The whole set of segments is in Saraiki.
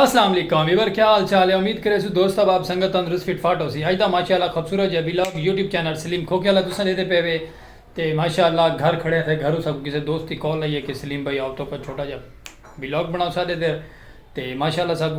السلام علیکم ویور کیا حال چال ہے امید کرے سو دوست احباب سنگت تندرست فٹ فاٹ ہوسی اج دا ماشاءاللہ خوبصورت جے ویلاگ یوٹیوب چینل سلیم کھوکے والا تساں دے تے پے وے تے ماشاءاللہ گھر کھڑے تھے گھرو سب کسے دوست دی کال آئی ہے کہ سلیم بھائی آؤ تو کا چھوٹا جا ویلاگ بناؤ سا دے تے ماشاءاللہ سب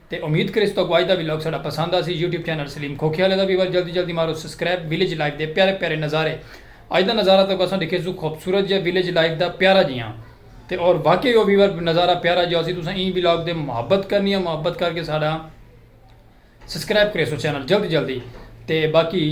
تے امید کریس تہاکوں اج دا ولاگ ساڈا پسند آسی یوٹیوب چینل سلیم کھوکھے آلے دا وی ول جلدی جلدی مارو سسکریب ولیج لائف دے پیارے پیارے نظارے اج دا نظارہ تہاکوں اساں ڈکھے سوں خوبصورت جیہا ولیج لائف دا پیارا جیہاں تے اور واقعی او ویور نظارہ پیارا جیہا ہوسی تساں ایں ولاگ دے محبت کرنی ہے محبت کر کے ساڈا سسکریب کریسو چینل جلدی جلدی تے باقی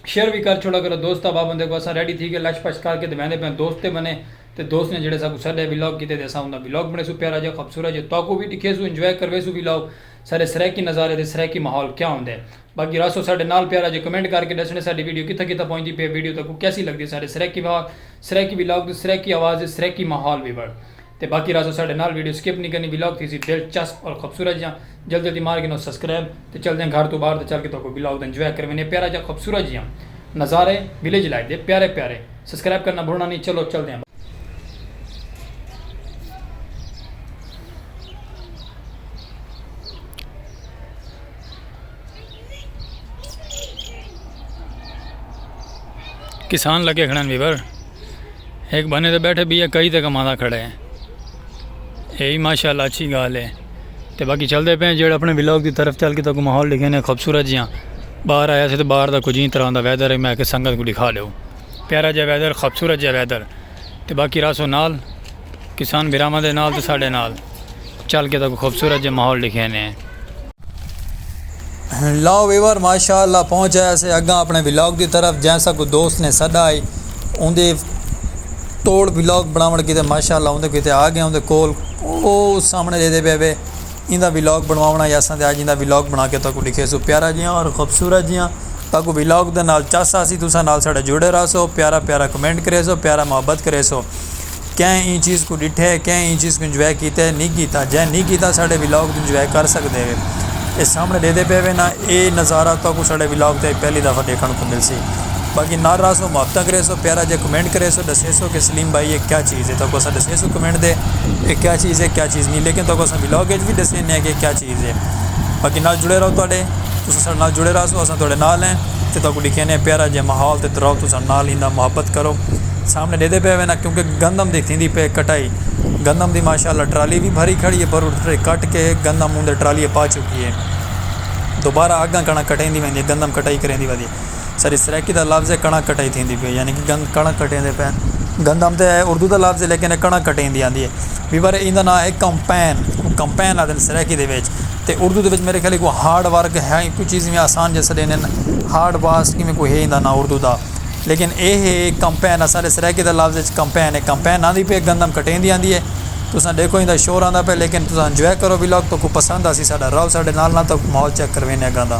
شیئر وی کر چھوڑا کرو دوست احباب ہوندے کو اساں ریڈی تھی کے لش پش کر کے تے ویندے پیاں دوست تے بنے تے دوست نے جیڑھے ساکوں ساڈے ولاگ کیتے تے اساں اوندا ولاگ بنڑیسوں پیارا جیہا خبصورت جیہا تہاکوں وی ڈکھیسوں انجوائے کرویسوں ولاگ ساڈے سرائیکی نظارے تے سرائیکی ماحول کیا ہوندے باقی رہسو ساڈے نال پیارا جیہا کمنٹ کر کے ڈسنے ساڈی ویڈیو کتھاں کتھاں پہنچدی پئی ہے ویڈیو تہاکوں کیسی لگدی ہے ساڈے سرائیکی ماحول سرائیکی ولاگ تے سرائیکی آواز تے سرائیکی ماحول وی بنڑ تے باقی رہسو ساڈے نال ویڈیو سکپ نی کرنی ولاگ تھیسی دلچسپ اور خبصورت جیہا جلد جلدی مار گھنو سسکرائب تے چلدیاں گھر توں باہر تے چل کے تہاکوں وی لاگ دا انجوائے کروینے پیارا جا خوبصورت جیاں نظارے ویلیج لائف دے پیارے پیارے سسکرائب کرنا بھلنا نی چلو چلدیاں باہر۔ کسان لگے کھڑن ویور۔ ہک بھنے تے بیٹھے بیا کئی تے کمانا کھڑے ہیں اے ہی ماشاءاللہ اچھی گال ہے تے باقی چل دے پہ جیڑا اپنے ولاگ دی طرف چل کے تو ماحول لکھے نے خوبصورت جیاں باہر آیا سے تو باہر دا کچھ ہی طرح دا ویدر ہے میں کہ سنگت کو دکھا لے پیارا جا ویدر خوبصورت جا ویدر تے باقی راسو نال کسان بھراواں دے نال تے ساڈے نال چل کے تاکوں خوبصورت جے ماحول ڈکھے نے۔ لو ویور ماشاء اللہ پہنچ آیا سے اگاں اپنے ولاگ دی طرف جیں سا کو دوست نے سدا آئی اون دے توڑ ولاگ بناون کیتے ماشاء اللہ اون دے کیتے آ گیا اون دے کول او سامنے دے دے پے وے ایں دا ولاگ بنواونا یا سا دے آج ایں دا ولاگ بنا کے تاکو ڈیکھے سو پیارا جیاں اور خوبصورت جیاں تاکو ولاگ دے نال چاسا سی تسا نال ساڈے جڑے رہا سو پیارا پیارا کمنٹ کرے سو پیارا محبت کرے سو۔ کئیں ایں چیز کوں ݙٹھے ہے کئیں ایں چیز کوں انجوائے کیتے ہے نہیں کیتا جئیں نہیں کیتا ساݙے ولاگ توں انجوائے کر سڳدے ہے اے سامݨے ݙیہدے پئے وے نا اے نظارہ تہاکوں ساݙے ولاگ تے پہلی دفعہ ݙیکھݨ کوں ملسی باقی نال رہسو محبتہ کریسو پیارا جیہا کمنٹ کریسو ݙسیسو کہ سلیم بھائی اے کیا چیز ہے تہاکوں اساں ݙسیسوں کمنٹ تے اے کیا چیز ہے کیا چیز نہیں لیکن تہاکوں اساں ولاگ وچ وی ݙسینے ہیں کہ کیا چیز ہے باقی نال جڑے رہو تہاݙے تساں ساݙے نال جڑے رہسو اساں تہاݙے نال ہیں تے تہاکوں ݙکھینے ہیں پیارا جیہا ماحول تے تراؤ تساں نال ایندا محبت کرو سامنے ڈیدھے پے وینا کیونکہ گندم دی تھیندی پے کٹائی گندم دی ماشاءاللہ ٹرالی بھی بھری کھڑی ہے پر ٹرے کٹ کے گندم اوندے ٹرالی پا چکی ہے دوبارہ اگاں کنا کٹے دی ویندی ہے گندم کٹائی کریں دی ودی سری سرکی دا لفظ ہے کنا کٹائی تھیندی پے یعنی کہ گند کنا کٹے دے پین گندم تے ہے اردو دا لفظ ہے لیکن کنا کٹے دی آندی ہے وی پر ایندا نام ہے کمپین کمپین آدھے سرکی دے ویچ تے اردو دے ویچ میرے خیال کو ہارڈ ورک ہے کوئی چیز میں آسان جیسے دینن ہارڈ واسٹ کی میں کوئی ہے دا نام اردو دا لیکن اے ہے کمپین اساݙے سرائیکی دے لفظ وچ کمپین ہے کمپین آندی پئی ہے گندم کٹیندی آندی ہے تساں ݙیکھو ایندا شور آندا پئے لیکن تساں انجوائے کرو ولاگ تہاکو پسند آسی ساݙا رہو ساݙے نال نال تہاکو ماحول چیک کرویندے اڳاں دا۔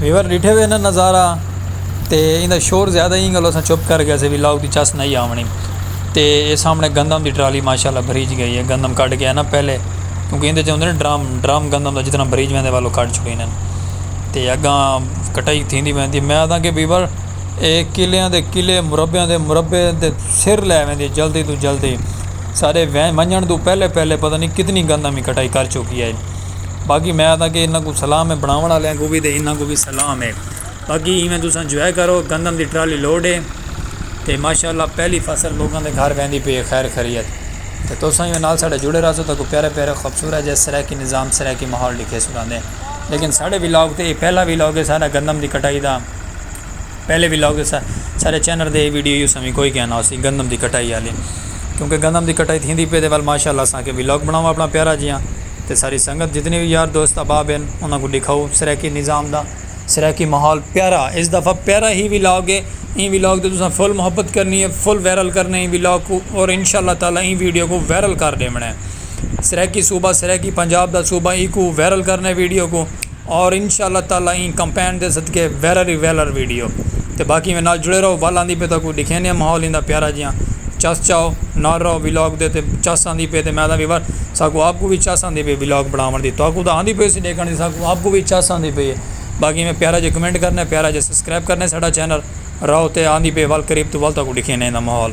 ویور ݙٹھے ہوئے ناں نظارہ تے ایندا شور زیادہ ایں گلوں اساں چپ کر گئے سے وی لاؤڈ دی چس نئیں آوݨی تے اے سامݨے گندم دی ٹرالی ماشاء اللہ بھریج ڳئی ہے گندم کڈھ ڳئے ناں پہلے کیونکہ ایندے چ ہوندے ناں ڈرم ڈرم گندم دا جتنا بھریج ویندے ول او کڈھ چھوڑی نن تے اڳاں کٹائی تھیندی ویندی میں آکھاں کہ ویور اے کلیاں دے کلے مربیاں دے مربے تے سر لے ویندی جلدی توں جلدی سارے وین ونجݨ توں پہلے پہلے پتہ نہیں کتنی گندم ہی کٹائی کر چکی ہے باقی میں آتا کہ انہاں کو صلاح میں بناون والے کو بھی تے انہاں کو بھی صلاح میں باقی ایویں تساں جو ہے کرو گندم دی ٹرالی لوڈ ہے تے ماشاء اللہ پہلی فصل لوگوں دے گھر ویندی پئی ہے خیر خیریت تے تساں ایویں نال ساڈے جڑے رہسو تاکہ پیارے پیارے خوبصورت جیس طرح کی نظام سرائے کی ماحول ڈیکھے سناندیں لیکن ساڈے ولاگ تے پہلا ولاگ ہے سارا گندم دی کٹائی دا پہلے وی لاگ ݙسا ساݙے چینل تے اے ویڈیو یوساں وی کوئی کہنا ہوسی گندم دی کٹائی آلی کیونکہ گندم دی کٹائی تھیندی پئے تے ول ماشاءاللہ اساں آکھیا وی لاگ بݨاواں اپݨا پیارا جیہاں تے ساری سنگت جتنے وی یار دوست احباب ہن انہاں کوں ݙکھاؤ سرائیکی نظام دا سرائیکی ماحول پیارا اس دفعہ پیارا ہی وی لاگ اے ایں وی لاگ تے تساں فل محبت کرنی اے فل وائرل کرݨے ایں وی لاگ کوں اور انشاءاللہ تعالی ایں ویڈیو کوں وائرل کر ݙیوݨے سرائیکی صوبہ سرائیکی پنجاب دا صوبہ ایکوں وائرل کرݨے ویڈیو کوں۔ اور انشاء اللہ تعالی ایں کمپین دے صدقے ویرر ای ویلر ویڈیو تے باقی میں نال جڑے رہو ول آندی پے تاکوں ڈکھینے آں ماحول ایندا پیارا جیاں چس چاؤ نال رہو ولاگ دے تے چس آندی پے تے میں آدھا ویور ساکوں آپ کو وی چس آندی پے ولاگ بناون دی تاکوں دا آندی پے سی ڈیکھن دی ساکوں آپ کو وی چس آندی پے باقی میں پیارا جے کمنٹ کرنے پیارا جے سبسکرائب کرنے ساڈا چینل رہو تے آندی پے ول قریب تو ول تاکوں ڈکھینے ایندا ماحول۔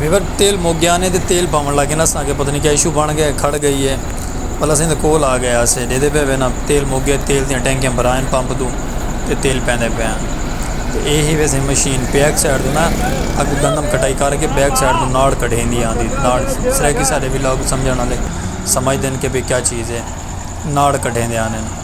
ویور تیل مک گیا نے تے تیل پاون لگ گئے نا اساں کے پتہ نہیں کیا ایشو بن گیا کھڑ گئی ہے پہلے اساں دے کول آ گیا اسے دے دے پے وینا تیل مک گیا تیل دیاں ٹینکیاں بھرائن پمپ دو تے تیل پیندے پے ہیں تے اے ہی ویسے مشین بیک سائیڈ دے نا اگ گندم کٹائی کر کے بیک سائیڈ دے ناڑ کڈھیندی آندی ناڑ سرے کی سارے بھی لوگ سمجھن والے سمجھ دین کے بھی کیا چیز ہے ناڑ کڈھیندے آندے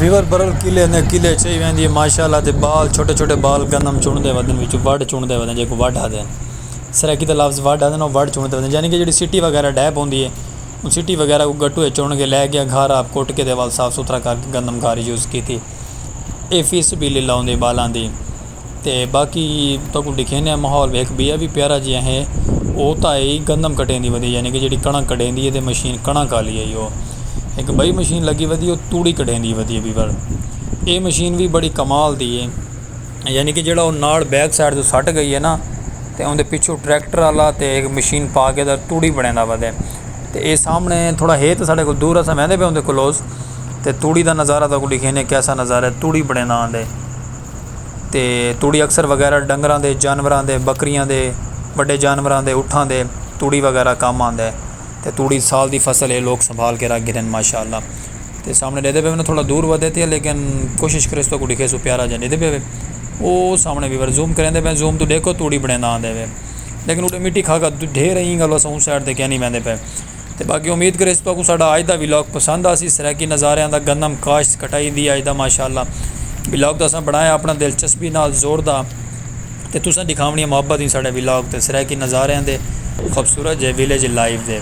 ویور برل قلعے نے قلعے چئی ویندی ہے ماشاءاللہ دے بال چھوٹے چھوٹے بال گندم چن دے ودن وچ وڈ چن دے ودن جے کو وڈ ہدے سرائیکی دا لفظ وڈ ہدے نو وڈ چن دے ودن یعنی کہ جڑی سٹی وغیرہ ڈھے پوندی ہے ان سٹی وغیرہ کو گٹو ہے چن کے لے گیا گھر آپ کوٹ کے دے وال صاف ستھرا کر کے گندم گھاری یوز کیتی اے فی سبیل اللہ ہوندی بالاں دی تے باقی تہاکوں ݙکھیندے ہاں ماحول وی ہک ٻیا وی پیارا جیہا ہے او تاں ہے ای گندم کٹیں دی ودی یعنی کہ جیڑھی کݨک کڈھیں دی ہے تے مشین کݨک آلی ہے یو ہک ٻئی مشین لڳی ودی ہے او توڑی کڈھیں دی ودی ہے ٻئی وار اے مشین وی بڑی کمال دی ہے یعنی کہ جیڑھا او نال بیک سائیڈ توں سٹ گئی ہے نا تے اوندے پچھوں ٹریکٹر آلا تے ہک مشین پا کے تے توڑی بݨیندا ودے تے اے سامݨے تھوڑا ہے تے ساݙے کول دور اساں ویندے پئے اوندے کولوس تے توڑی دا نظارہ تہاکوں ݙکھیندے کیسا نظارہ ہے توڑی بݨیندا آندے تے تڑی اکثر وغیرہ ڈنگراں دے، جانوراں دے، بکریاں دے، وڈے جانوراں دے، اٹھاں دے تڑی وغیرہ کم آندے تے تڑی سال دی فصل اے لوگ سنبھال کے رکھ گھدن ماشاءاللہ تے سامنے ڈیدھے پے ون تھوڑا دور ودھے تے لیکن کوشش کرے سو کو ڈیکھے سو پیارا جا ڈیدھے پے وے او سامنے ویور زوم کریں دے پے زوم تو ڈیکھو تڑی بنیں دا آندے وے لیکن اڈے مٹی کھا کھا ڈھیر ایں گلو سوں سائڈ تے کینی ویندے پے تے باقی امید کریس تہاکوں ساڈا اج دا ولاگ پسند آسی سرائیکی نظاریاں دا گندم کاشت کٹائی دی اج دا ماشاءاللہ ولاگ تے اساں بنڑایا اپنڑاں دلچسپی نال زور دا تے تساں ڈکھاونڑیاں محبت ایں ساڈے ولاگ تے سرائیکی نظاریاں دے خوبصورت جئے ویلیج لائیو دے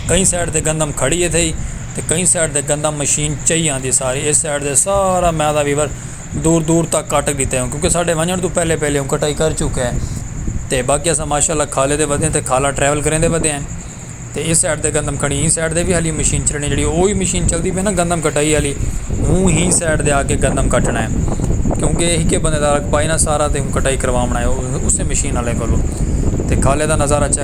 کہیں سائیڈ تے گندم کھڑی اتھئی تے کہیں سائیڈ تے گندم مشین چئی آندی ساری اس سائیڈ تے سارا میدان ویور۔ دور دور تک کٹ ڈتے ہوں کیونکہ ساڈے ونجن توں پہلے پہلے ہوں کٹائی کر چکے ہیں تے باقی اساں ماشاءاللہ کھالے دے ودے ہیں تے کھالا ٹریول کریں دے ودے ہیں تے اس سائڈ دے گندم کھڑی ہیں اس سائڈ دے بھی حالی مشین چلنی جڑی اوہی مشین چلدی پئی نا گندم کٹائی حالی ہوں ہی سائڈ دے آ کے گندم کٹنا ہے کیونکہ ایک ہی بندے دا رقبہ ہے نا سارا تے ہوں کٹائی کروانا ہے اسے مشین والے کولوں تے کھالے دا نظارہ چیک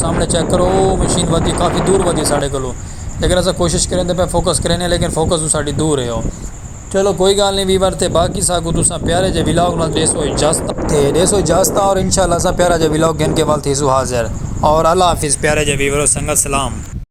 سامنے چیک کرو او مشین ودی کافی دور ودی ہے ساڑے کولو لیکن اسا کوشش کریں دے پے فوکس کریں دے لیکن فوکس تو ساڑی دور ہے او چلو کوئی گال نہیں ویور تے باقی ساکو تساں پیارے جے ولاگ نال ڈیسو اجازتا تے ڈیسو اجازتا اور انشاءاللہ اساں پیارا جا ولاگ گھن کے ول تھیسو حاضر اور اللہ حافظ پیارے جے ویورو سنگت سلام۔